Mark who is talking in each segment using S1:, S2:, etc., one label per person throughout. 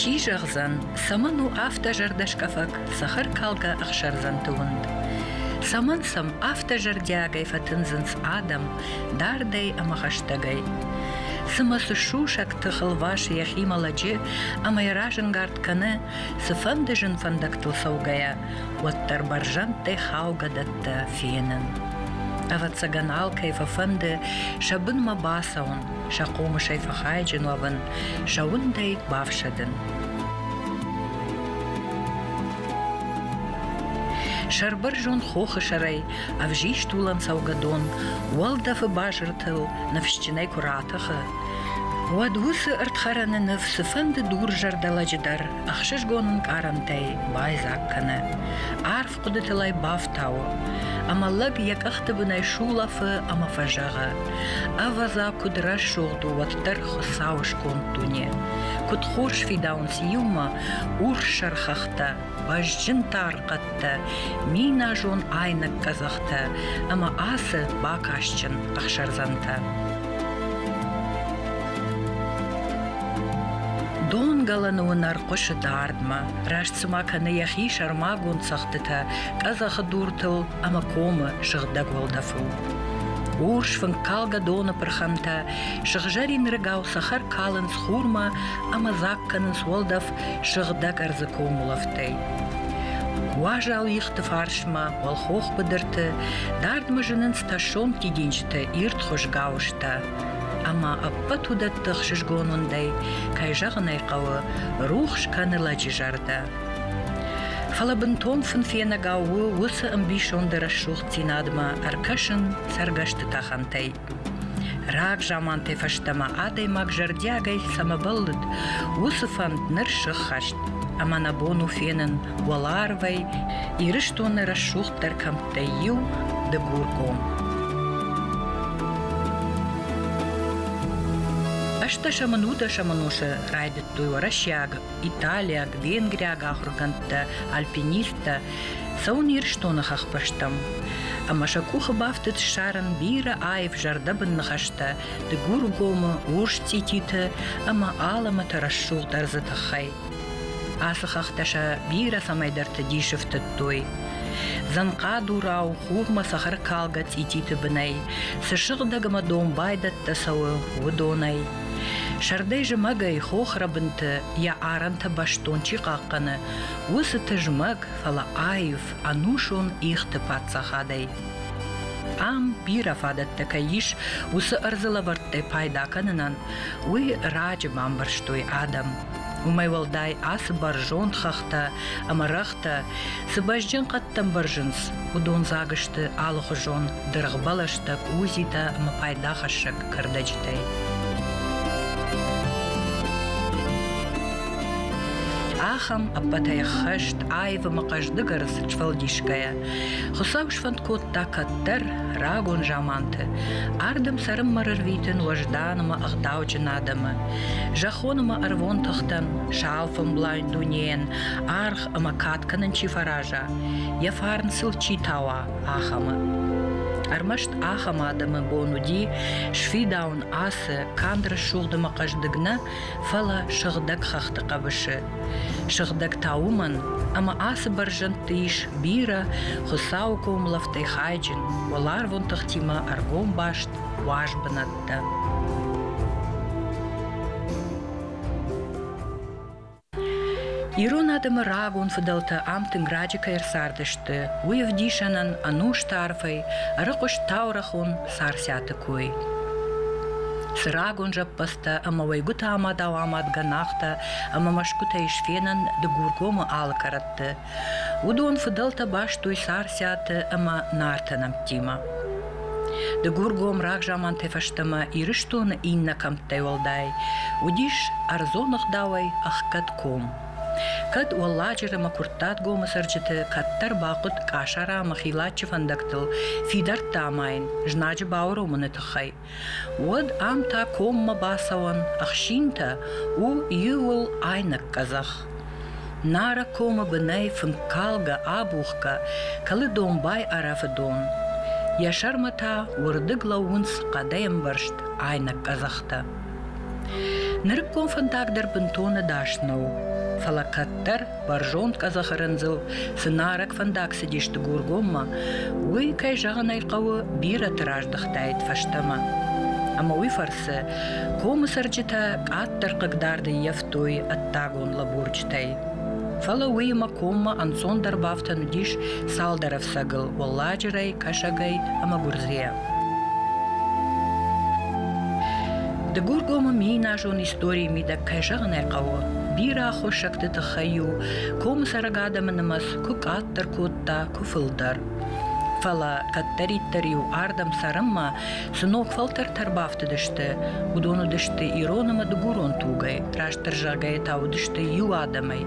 S1: Чи зӕгъдзӕн, цӕмӕн у афтӕ зӕрдӕскъӕфӕг цӕхӕркалгӕ ӕхсӕрдзӕнты уынд? Цӕмӕн сӕм афтӕ зӕрдиагӕй фӕтындзынц адӕм дардӕй ӕмӕ хӕстӕгӕй? Цымӕ цы сусӕг тых ӕлвасы йӕхимӕ лӕджы ӕмӕ йӕ разӕнгард кӕны, цыфӕнды зын фӕндӕгтыл цӕугӕйӕ, уӕддӕр бӕрзӕндтӕй хаугӕдӕттӕ фенын. Ӕвӕццӕгӕн алкӕй фӕфӕнды сӕ бынмӕ бацӕуын, сӕ хъомысӕй фӕхайджын уӕвын, сӕ уындӕй бафсӕдын. Сӕрбӕрзонд хохы сӕрӕй ӕвзист улӕн цӕугӕ дон уӕлдӕфы базыртыл ныфсджынӕй куы ратӕхы, уӕд уыцы ӕрдхӕрӕны ныв цыфӕнды дур зӕрдӕлӕджы дӕр ӕхсызгон ӕнкъарӕнтӕй байдзаг кӕны. Арф хъуыдытыл ӕй бафтауы, ӕмӕ лӕг йӕ къӕхты бынӕй сулӕфы ӕмӕ фӕзӕгъы, ӕвӕдза, куыд рӕсугъд у уӕддӕр Хуыцауы сконд дуне. Куыд хорз фидауынц иумӕ урссӕр хӕхтӕ, бӕзджын тар хъӕдтӕ, миназон айнӕг къӕдзӕхтӕ ӕмӕ ацы бакастджын ӕхсӕрдзӕнтӕ. Донгӕлӕны уынӕр хъуысы дардмӕ. Раст цыма кӕны йӕхи сӕрмагонд цӕгъдтытӕ къӕдзӕхы дуртыл ӕмӕ комы сыгъдӕг уӕлдӕфыл. Урс фынккалгӕ доны пырхӕнтӕ сыгъзӕрин рыгау цӕхӕр калынц хурмӕ ӕмӕ дзаг кӕнынц уӕлдӕф сыгъдӕг ӕрдзы комулӕфтӕй. Уазал ихты фарсмӕ уӕлхох быдырты дардмӕ зынынц тӕссон тидинджыты ирд хуызгӕ устӕ. Ӕмӕ ӕппӕт уыдӕтты ӕхсызгон уындӕй, кӕй зӕгъын ӕй хъӕуы, рухс кӕны лӕджы зӕрдӕ. Фӕлӕ бынтон фынфенӕгау у уыцы ӕмбисонды рӕсугъддзинадмӕ ӕркӕсын цӕргӕсты тӕхӕнтӕй. Раг замантӕй фӕстӕмӕ адӕймаг зӕрдиагӕй цӕмӕ бӕллыд, уыцы фӕнд ныр сыххӕст, ӕмӕ нӕ бон у фенын, уӕларвӕй Ирыстоны рӕсугъддӕр кӕмттӕй иу, Дыгургом. ӕстдӕсӕмӕн удӕсӕмӕн усы райдыдтой уӕрӕсеаг, италиаг, венгриаг ахуыргӕндтӕ, альпинисттӕ цӕуын Ирыстоны хӕхбӕстӕм. Ӕмӕ сӕ къухы бафтыд ссарын бирӕ аив зӕрдӕбын ныхӕстӕ Дыгургомы урс цъититы ӕмӕ алӕмӕты рӕсугъд ӕрдзы тыххӕй. Ацы хӕхтӕ сӕ бирӕ цӕмӕйдӕрты дис ӕфтыдтой. Дзӕнхъадурау хурмӕ цӕхӕркалгӕ цъититы бынӕй цы сыгъдӕг ӕмӕ домбайдӕттӕ цӕуы, уыдонӕй. Сӕрдӕй зымӕгӕй хохрӕбынты йӕ арӕнтӕ бӕстон чи хъахъхъӕны, уыцы тызмӕг, фӕлӕ аив, ӕнусон ихты паддзахадӕй. Ам бирӕ фадӕттӕ кӕй ис уыцы ӕрдзы лӕвӕрттӕй пайда кӕнынӕн, уый раджы бамбӕрстой адӕм. Уымӕй уӕлдай ацы бӕрзонд хӕхтӕ ӕмӕ рӕгътӕ цы бӕзджын хъӕдтӕм бӕрзынц, уыдон дзаг сты алыхуызон дыргъбӕлӕстӕ, къудзитӕ ӕмӕ пайдахӕссӕг кӕрдӕджытӕй. Ахӕм ӕппӕтӕй хӕст аивы мӕ хъӕздыгӕры сфӕлдисгӕйӕ. Хуыцау сфӕнд кодта кӕддӕр, рагон заманты, ардӕм цӕрынмӕ рарвитын уӕздан ӕмӕ ӕгъдауджын адӕмы. Зӕххон ӕмӕ ӕрвон тыхтӕн, сау фӕмблайн дунейӕн аргъ ӕмӕ кад кӕнын чи фӕраза, йӕ фарн сыл чи тауа, ахӕмы. Ӕрмӕст ахӕм адӕмы бон уыди сфидауын ацы канд рӕсугъд ӕмӕ хъӕздыг нӕ, фӕлӕ сыгъдӕг хӕхты хъӕбысы. Сыгъдӕг та уымӕн, ӕмӕ ацы бӕрзӕндты ис бирӕ Хуыцауы комылӕфтӕй хайджын, уӕларвон тыхтимӕ ӕргом баст уаз бынат. кодта. Ирон адӕмы рагон фыдӕлтӕ ам тынг раджы кӕй ӕрцардысты, уый ӕвдисӕнӕн ӕнусты арфӕй ӕрыхъуыст таурӕхон Царциаты кой. Цы рагон зӕппӕдзтӕ ӕмӕ уӕйгуыты амадау-амадгӕ нагътӕ ӕмӕ мӕсгуытӕй сфенӕн Дыгургомы алы кӕрӕтты, Уыдон фыдӕлтӕ бастой Сарсӕты ӕмӕ Нарты нӕмттимӕ. Дыгургом рагзамантӕй фӕстӕмӕ Ирыстоны иннӕ кӕмттӕй уӕлдай уыдис ӕрдзон ӕгъдауӕй ӕхгӕд ком. Кӕд Уӕлладжыры ӕмӕ Куырттатгомы цӕрджыты кӕддӕр бахъуыд Къасарамы хилаччы фӕндӕгтыл фидӕрттӕ амайын знаджы бауромыны тыххӕй, уӕд ам та коммӕ бацӕуӕн ӕхсинтӕ у иууыл айнӕг къӕдзӕх. Нарӕг комы бынӕй фынккалгӕ-абухгӕ кӕлы домбай арӕфы дон. Йӕ сӕрмӕ та уырдыг лӕууынц хъӕдӕй ӕмбӕрзт айнӕг къӕдзӕхтӕ. Нырыккон фӕндаг дӕр бынтон ӕдас нӕу, фӕлӕ кӕддӕр Бӕрзонд къӕдзӕхы рындзыл цы нарӕг фӕндаг цыдисты Гургоммӕ, уый, кӕй зӕгъын ӕй хъӕуы, бирӕты раздӕхтаид фӕстӕмӕ. Ӕмӕ уый фӕрцы комы цӕрджытӕ къаддӕр хъыгдард ӕййӕфтой ӕддагон лӕбурджытӕй. Фӕлӕ уыимӕ коммӕ ӕнцондӕр бафтӕн уыдис цалдӕр ӕфцӕгыл – уӕлладжырӕй, кӕсӕгӕй ӕмӕ гуырдзыйӕ. Дыгургомы мейнажон историйы мидӕг, кӕй зӕгъын ӕй хъӕуы, бирӕ аххосӕгты тыххӕй-иу комы цӕрӕг адӕмы нымӕц куы къаддӕр кодта, куы фылдӕр. Фӕлӕ кӕддӕриддӕр-иу ардӕм цӕрынмӕ цы ног фӕлтӕртӕ ӕрбафтыдысты, уыдон уыдысты ирон ӕмӕ дыгурон тугӕй, раст ӕрзагӕй та уыдысты иу адӕмӕй.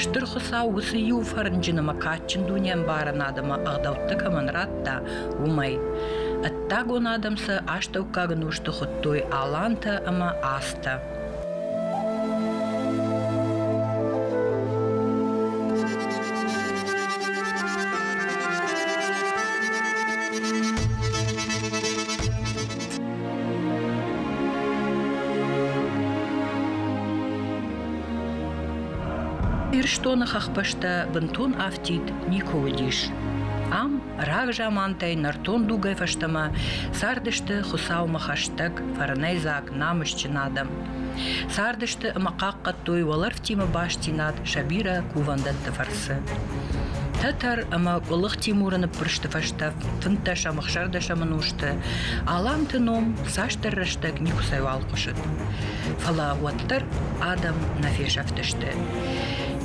S1: Стыр Хуыцау уыцы иу фӕрнджын ӕмӕ кадджын дунеӕмбарӕн адӕмы ӕгъдӕуттӕ кӕмӕн радта, уымӕй. Ӕддагон адӕм сӕ астӕуккаг нозты хуыдтой алантӕ ӕмӕ астӕ. Ирыстоны хӕхбӕстӕ бынтон афтид никуы уыдис. Ам Рагзамантӕй нӕртон дугӕй фӕстӕмӕ цардысты Хуыцаумӕ хӕстӕг, фӕрнӕйдзаг, намысджын адӕм. Цардысты ӕмӕ хъахъхъӕдтой уӕлӕрвтимӕ бастдзинад сӕ бирӕ кувӕндӕтты фӕрцы. Тӕтӕр ӕмӕ Къуылых Тимуры ныппырсты фӕстӕ фынддӕсӕмӕхсӕрдӕсӕмы ӕнусты Аланты ном цасдӕр рӕстӕг никуыцӕйуал хъуысыд. Фӕлӕ уӕддӕр адӕм нӕ фесӕфтысты.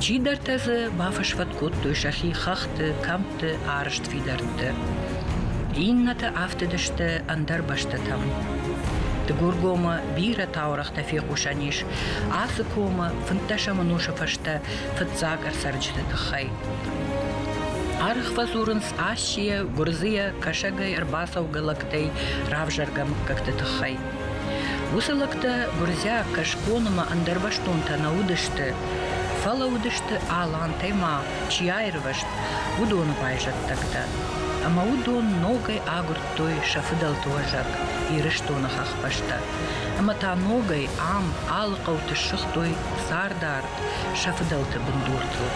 S1: Чидӕртӕ дзы бафӕсвӕд кодтой сӕхи хӕхты, кӕмтты сты арызт фидӕрттӕ. Иннӕтӕ афтыдысты ӕндӕр бӕстӕтӕм. Дыгургомы бирӕ таурӕгътӕ фехъусӕн ис ацы комы фынддӕсӕм ӕнусы фӕстӕ фыццаг ӕрцӕрджыты тыххӕй. Аргъ фӕдзурынц Асийӕ, Гуырдзыйӕ кӕсӕгӕй ӕрбацӕугӕ лӕгтӕй равзӕргӕ мыггӕгты тыххӕй. Уыцы лӕгтӕ гуырдзиаг кӕсгон ӕмӕ ӕндӕрбӕстонтӕ нӕ уыдысты, фӕлӕ уыдысты алантӕй ма чи аирвӕзт, уыдоны байзӕддӕгтӕ. Ӕмӕ уыдон ногӕй агуырдтой сӕ фыдӕлты уӕзӕг Ирыстоны хӕхбӕстӕ. Ӕмӕ та ногӕй ам алы хъӕуты ссыгътой цардард сӕ фыдӕлты бындуртыл.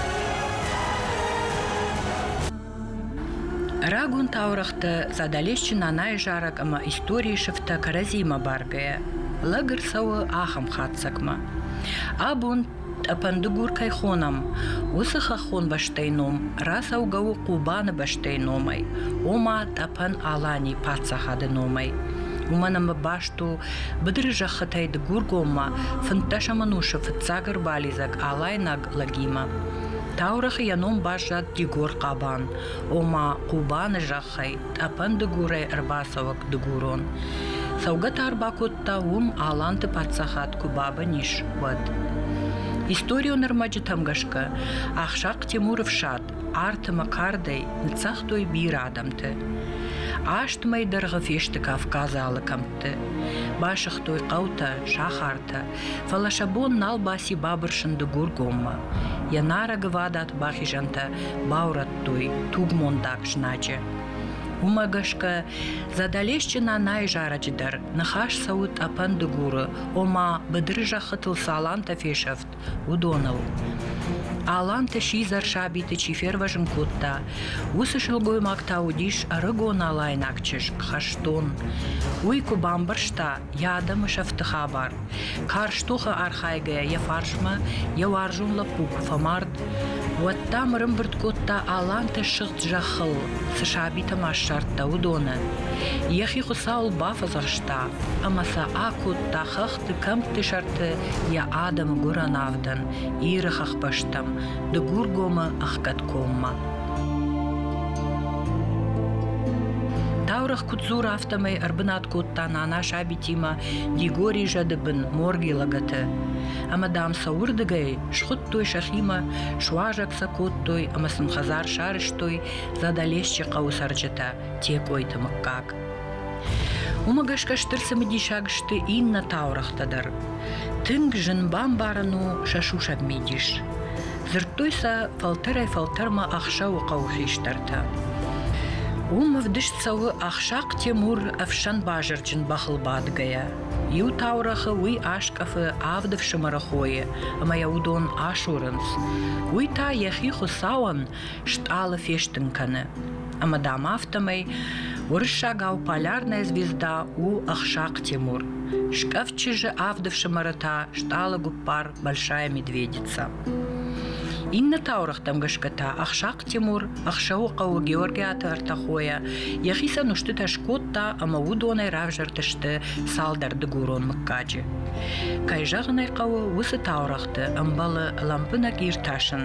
S1: Рагон таурӕгътӕ Задӕлесчы Нанайы зарӕг ӕмӕ историйы сыфтӕ кӕрӕдзиимӕ баргӕйӕ, лӕг ӕрцӕуы ахӕм хатдзӕгмӕ. Абон Тъӕпӕндыгур кӕй хонӕм, уыцы хӕххон бӕстӕйы ном рацӕугӕ у Хъубаны бӕстӕйы номӕй, ома Тъӕпӕн-Аланийы паддзахады номӕй. Уымӕн ӕмӕ баст у быдыры зӕххытӕй Дыгургоммӕ фынддӕсӕм ӕнусы фыццаг ӕрбалидзӕг алайнаг лӕгимӕ. Таурӕгъы йӕ ном баззад Дигор Хъабан, ома Хъубаны зӕхх. тыххӕй тъӕпӕн дыгурӕй ӕрбацӕуӕг дыгурон. Цӕугӕ та ӕрбакодта уым Аланты паддзахад куы бабын ис, уӕд. Историон ӕрмӕджытӕм гӕсгӕ Ахсахъ Тимуры фсад артымӕ кардӕй ныццагътой бирӕ адӕмты. Аст мӕй дӕргъы фесты Кавказы алы кӕмттӕ. хӕдзӕртты. Басыгътой хъӕутӕ, сахартӕ, фӕлӕ сӕ бон нал баци бабырсын Дыгургоммӕ. Йӕ нарӕгвадат бахизӕнтӕ баурӕдтой тугмондаг знаджы. Уымӕ гӕсгӕ Задӕлесджын Анайы зарӕджы дӕр ныхас цӕуы тъӕпӕн Дыгуры, ома быдыры зӕххытыл салантӕ фесӕфт уыдоныл. Аланты сидзӕр сабиты чи фервӕзын кодта, уыцы сылгоймаг та уыдис ӕрыгон алайнаг чызг хӕстон. Уый куы бамбӕрста йӕ адӕмы сӕфты хабар, карз тохы архайгӕйӕ йӕ фарсмӕ йӕ уарзон лӕппу куы фӕмард, уӕд та мырымбырд кодта аланты сыгъд зӕххыл, цы сабитӕ ма ссардта, уыдоны. Йӕхи Хуыцауыл бафӕдзӕхста ӕмӕ сӕ акодта хӕх цы кӕмтты сӕрты йӕ адӕмы гуырӕн авдӕн Иры хӕхбӕстӕм, Дыгургомы ӕхгӕдкоммӕ. Таурӕгъ куыд дзур, афтӕмӕй ӕрбынат кодта нана сабитимӕ Дигори зӕды бын морги лӕгӕты. Ӕмӕ дам сӕ уырдыгӕй схуыдтой сӕхимӕ, суазӕг сӕ кодтой ӕмӕ сын хӕдзар сарӕзтой Задалесчы хъӕуы цӕрджытӕ Текъойты мыггаг. Уымӕ гӕсгӕ стыр цымыдисаг сты иннӕ таурӕгътӕ дӕр. Тынг зын бамбарын у сӕ сусӕг мидис. Дзырдтой сӕ фӕлтӕрӕй-фӕлтӕрмӕ ӕхсӕвы хъӕуы хистӕртӕ. Уым ӕвдыст цӕуы Ахсахъ Темур ӕфсӕн базырджын бӕхыл бадгӕйӕ. Иу таурӕгъы уый аскъӕфы авд ӕфсымӕры хойы, ӕмӕ йӕ уыдон асурынц. Уый та йӕхи Хуыцауӕн стъалы фестын кӕны. Ӕмӕ дам афтӕмӕй уырыссагау полярная звезда у ӕхсахъ Тимур. Скъӕфт чызджы авд ӕфсымӕры та стъалы гуппар Большая медведица. Иннӕ таурӕгътӕм гӕсгӕ та Ӕхсахъ Тимур ӕхсӕвы хъӕуы Георгиаты ӕртӕхойӕ йӕхицӕн устытӕ скодта ӕмӕ уыдонӕй равзӕрдысты цалдӕр дыгурон мыггаджы. Кӕй зӕгъын ӕй хъӕуы, уыцы таурӕгъты ӕмбӕлы лӕмбынӕг иртасын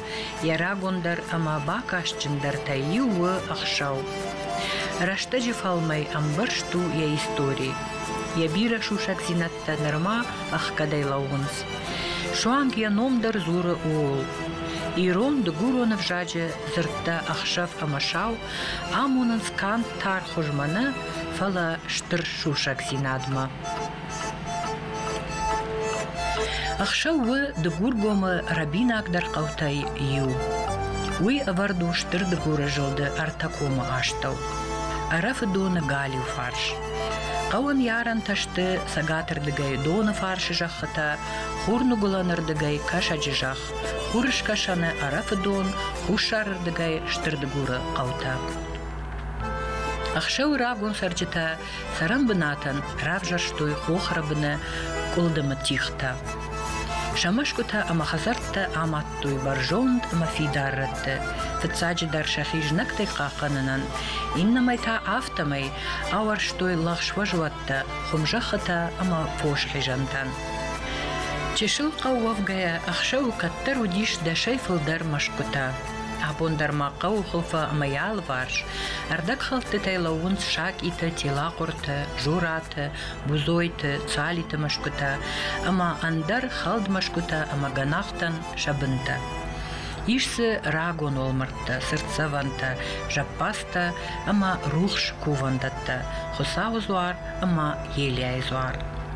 S1: Йӕ рагондӕр ӕмӕ бакастджындӕртӕй иу у ӕхсӕв. Рӕстӕджы фӕлмӕй ӕмбӕрзт у йӕ истори. Йӕ бирӕ сусӕгдзинӕдтӕ нырма ӕхгӕдӕй лӕууынц. Суанг йӕ ном дӕр дзуры ууыл. Ирон дыгуроны взаджы дзырдтӕ ӕхсӕв ӕмӕ сау амонынц канд тархуызмӕ нӕ, фӕлӕ стыр сусӕгдзинадмӕ. Ӕхсӕв у Дыгургомы рӕбинагдӕр хъӕутӕй иу. Уый ӕвӕрд у стыр Дыгуры зылды ӕртӕ комы астӕу, Ӕрӕфы доны галиу фарс. Хъӕуӕн йӕ арӕнтӕ сты цӕгатырдыгӕй доны фарсы зӕххытӕ, хурныгуылӕнырдыгӕй кӕсӕджы зӕхх, хурыскӕсӕны Ӕрӕфы дон, хуссарырдыгӕй Стыр Дыгуры хъӕутӕ. Ӕхсӕвы рагон цӕрджытӕ Цӕрӕн бынатӕн равзӕрстой хохрыбыны къуылдымы тигътӕ. Сӕ мӕсгуытӕ ӕмӕ хӕдзӕрттӕ амадтой бӕрзонд ӕмӕ фидар рӕтты, фыццаджыдӕр сӕхи знӕгтӕй хъахъхъӕнынӕн, иннӕмӕй та афтӕмӕй ауӕрстой лӕгъзфӕзуӕттӕ, хуымзӕххытӕ ӕмӕ фосхизӕнтӕн. Чысыл хъӕу уӕвгӕйӕ ӕхсӕвы кӕддӕр уыдис дӕсӕй фылдӕр мӕсгуытӕ. Абон дӕр ма хъӕуы хуылфы ӕмӕ йӕ алыварс ӕрдӕгхӕлдтытӕй лӕууынц сакъитӕ, телахъуыртӕ, жорӕтӕ, бузойты, цалиты мӕсгуытӕ ӕмӕ ӕндӕр хӕлд мӕсгуытӕ ӕмӕ гӕнахтӕн сӕ бынтӕ. Ис дзы рагон уӕлмӕрдтӕ, цыртдзӕвӕнтӕ, зӕппӕдзтӕ ӕмӕ рухс кувӕндӕттӕ, Хуыцауы дзуар ӕмӕ Елиайы дзуар.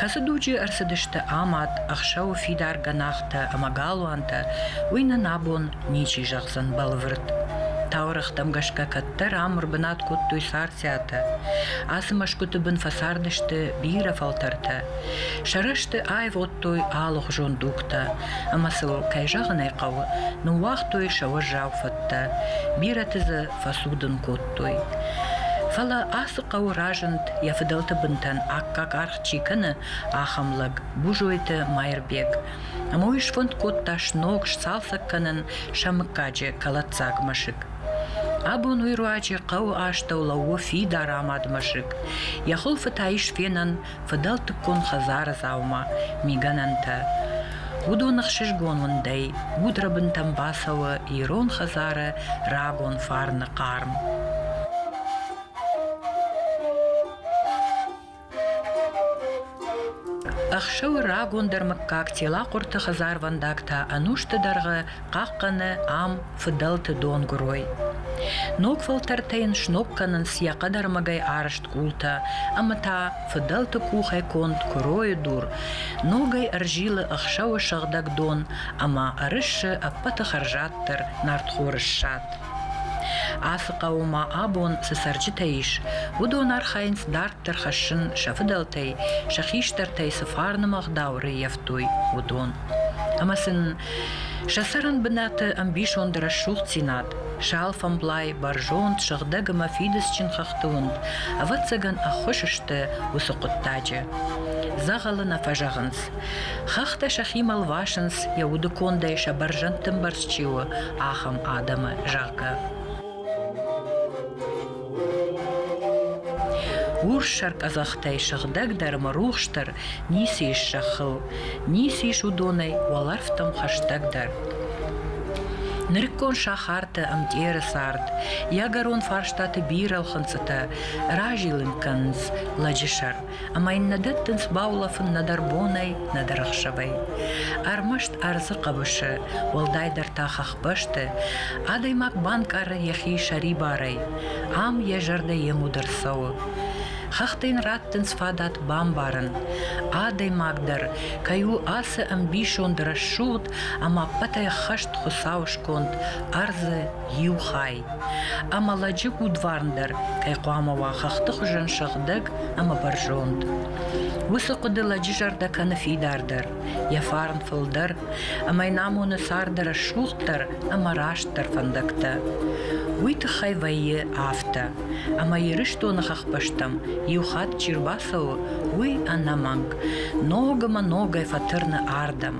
S1: Кӕцы дуджы ӕрцыдысты амад, ӕхсӕвы фидар гӕнахтӕ ӕмӕ галуантӕ, уый нын абон ничи зӕгъдзӕн бӕлвырд. Таурӕгътӕм гӕсгӕ кӕддӕр ам ӕрбынат кодтой царциатӕ. Ацы мӕсгуыты бын фӕцардысты бирӕ фӕлтӕртӕ. Сӕ рӕзты аивгъуыдтой алыхуызон дугтӕ, ӕмӕ сыл, кӕй зӕгъын ӕй хъӕуы, ныууагътой сӕ уӕззау фӕдтӕ. Бирӕты дзы фӕцудын кодтой. кодтой. Фӕлӕ ацы хъӕуы разынд, йӕ фыдӕлты бынтӕн аккаг аргъ чи кӕны, ахӕм лӕг, Бужойты Майырбег. Ӕмӕ уый сфӕнд кодта сног сцалцӕг кӕнын сӕ мыггаджы кӕлӕддзаг мӕсыг. Абон уый руаджы хъӕуы астӕу лӕууы фидар амад мӕсыг. Йӕ хуылфы та ис фенӕн фыдӕлтыккон хӕдзары дзаума, мигӕнӕнтӕ. Уыдон ӕхсызгон уындӕй, удрӕбынтӕм бацӕуы ирон хӕдзары рагон фарны хъарм. Ӕхсӕвы рагондӕр мыггаг телахъуырты хӕдзарвӕндаг та ӕнусты дӕргъы хъахъхъӕны ам фыдӕлты донгуырой. Ног фӕлтӕртӕ йын сног кӕнынц йӕ хъӕдӕрмӕгӕй арӕзт къултӕ ӕмӕ та фыдӕлты къухӕй конд куыройы дур ногӕй ӕрзилы ӕхсӕвы сыгъдӕг дон ӕмӕ ӕрыссы ӕппӕты хӕрзаддӕр нартхоры ссад. Ацы хъӕуы ма абон цы цӕрджытӕ ис, уыдон архайынц дарддӕр хӕссын сӕ фыдӕлтӕй, сӕ хистӕртӕй цы фарны ӕгъдау рыййӕфтой, уыдон. Ӕмӕ сын Сӕ цӕрӕн бынаты ӕмбисонд рӕсугъддзинад, сӕлфӕмблай, бӕрзонд, сыгъдӕг ӕмӕ фидыцджын хӕхты уынд, ӕвӕццӕгӕн, ӕххуыс сты уыцы хъуыддаджы. Дзӕгъӕлы нӕ фӕзӕгъынц. Хӕхтӕ сӕхимӕ лвасынц, йӕ уды кондӕй сӕ бӕрзӕндты мбӕрц чи у, ахӕм адӕмы, зӕгъгӕ. Урс сӕркъӕдзӕхтӕй сыгъдӕгдӕр мӕ рухсдӕр ницы ис зӕххыл, ницы ис уыдонӕй уӕлӕрвтӕм хӕстӕгдӕр. Нырыккон сахарты ӕмтъеры цард, йӕгӕрон фарстаты бирӕ ӕлхынцъытӕ разилын кӕнынц лӕджы сӕр. ӕмӕ йын нӕ дӕттынц баулӕфын нӕдӕр бонӕй, нӕдӕр ӕхсӕвӕй. Ӕрмӕст ӕрдзы хъӕбысы, уӕлдайдӕр та хӕхбӕсты, адӕймаг банкъары йӕхи сӕрибарӕй, ам йӕ зӕрдӕ йемуд ӕрцӕуы. Хӕхтӕ йын раттынц фадат бамбарын, адӕймаг дӕр кӕй у ацы ӕмбисонд рӕсугъд ӕмӕ ӕппӕтӕй ӕххӕст Хуыцауы сконд, ӕрдзы, иу хай, ӕмӕ лӕджы удварн дӕр кӕй хъуамӕ уа хӕхты хуызӕн сыгъдӕг ӕмӕ бӕрзонд. Уыцы хъуыды лӕджы зӕрдӕ кӕны фидардӕр, йӕ фарн фылдӕр, ӕмӕ йын амоны царды рӕсугъддӕр ӕмӕ растдӕр фӕндӕгтӕ. Уый тыххӕй вӕййы афтӕ, ӕмӕ Ирыстоны хӕхбӕстӕм иу хатт чи рбацӕуы, уый ӕнӕмӕнг ног ӕмӕ ногӕй фӕтырны ардӕм.